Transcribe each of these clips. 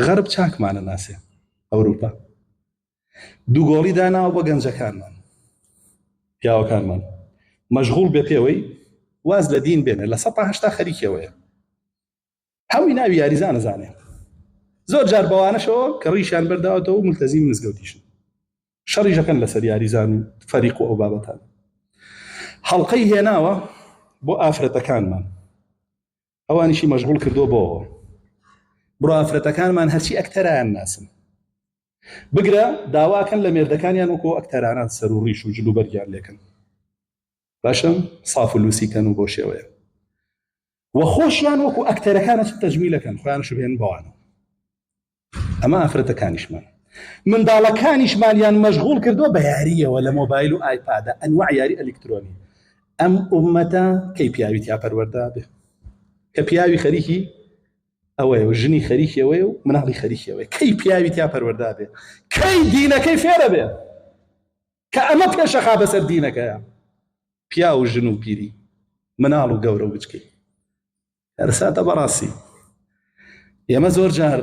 غەرب چاکمانە ناسێ ئەوروپا دوو گۆڵی داناوە بە گەنجەکانمان پیاوەکانمان مەشغول بێ پێوەی واز لە دین بێنێ لە سەهشتا خەریکەوەیە هەمووی ناوی یاریزانە زانێ زۆر جار بەوانەشەوە کە ڕیشیان بەرداوەتەوە ملتەزی مزگەوتیشن شەڕیژەکەن لەسەر یاریزان و فەریق و ئەو بابەتان هەڵلقەی هێناوە بۆ ئافرەتەکانمان ئەوانیشی مەشغول کردو بۆ بڕۆ ئافرەتەکانمان هەرچی ئەکتەران ناسن بگرە داواکەن لە مێردەکانیان وەکۆ ئەکتەرانان سەر و ڕیش و جلو بەرگیان لێکن باشم ساف و لوسیکەن و بۆ شێوەیە وە خۆشیان وەکو ئەکتەرەکانە تەجمیلەکەن خۆیان شوێن بەوانە ئەمە ئافرەتەکانیشمان منداڵەکانیشمانیان مەشغوڵ کردووە بە یاریەوە لە مۆبایل و ئایپادە ئەنواع یاری ئەلیکترۆنی ئەم ئومەتە کەی پیاوی تیا پەروەردا بێ کە پیاوی خەریکی ئەوەیە و ژنی خەریکیەوەی و مناڵی خەریکیەوەی کەی پیاوی تیا پەروەردا بێ کەی دینەکەی فێرە بێ کە ئەمە پێشەخا بەسەر دینەکەیە پیا و ژن و پیری مناڵ و گەورە و بچکەی کارەساتە بەڕاستی ئێمە زۆر جار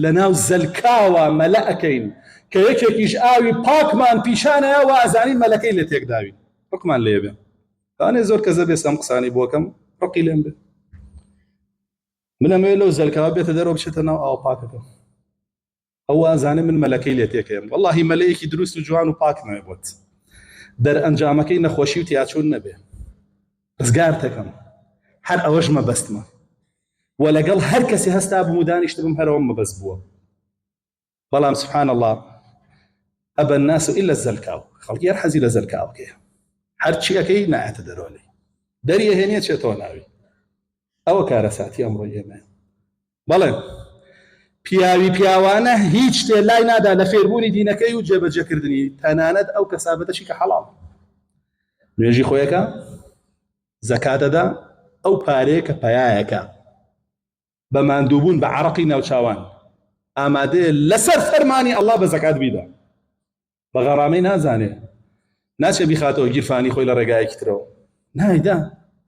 لە ناو زەلکاوە مەلە ئەەکەین کە یەکێکیش ئاوی پاکمان پیشانەیە و ئازانین مەلەکەی لە تێکداوی ڕکمان لێ بێ تانێ زۆر کەزە بێ سەم قسانی بۆکەم ڕقی لێم بێ منەمەوێت لەو زەلکاوە بێتە دەرەوە بچێتە ناو ئاو پاکەکە ئەو ئازانێ من مەلەکەی لێ تێکەیەم وەڵاهی مەلەیەکی دروست و جوان و پاک نوێ بۆت دەرئەنجامەکەی نەخۆشی و تیاچوون نەبێ ڕزگارتەکەم هەر ئەوەش مەبەستمە و لەگەڵ هەر کەسی هەستا بوو دانیشت بم هەرەوە مەبەست بووە بەڵام سبحان الله ئەبەن ناس و ئیلە زەلکاو خەڵکی هەر حەزی لە زەلکاوکەیە هەرچی ئەەکەی نایەتە دەرۆلی دەریە هێنە چێتەوە ناوی ئەوە کارەساتی ئەمڕۆ ئێمە بەڵێ، پیاوی پیاوانە هیچ شتێ لای نادا لە فێربوونی دینەکەی و جێبەجێکردنی، تەنانەت ئەو کەسابەتەشی کە حەڵاڵ نوێژی خۆیەکە، زەکات دەدا، ئەو پارەیە کە پەیایەکە بە ماندووبوون بە عەرەقی ناوچاوان ئامادەیە لەسەر فەرمانی ئەڵڵا بە زەکات بیدا، بە غەڕامەی نازانێ ناچێ بیخاتەوە گیرفانی خۆی لە ڕێگایەکی ترەوە، نایدا،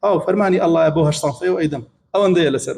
ئاو فەرمانی ئەڵڵایە بۆ هەشت سەنفەی و ئەیدەم، ئەوەندەیە لەسەر.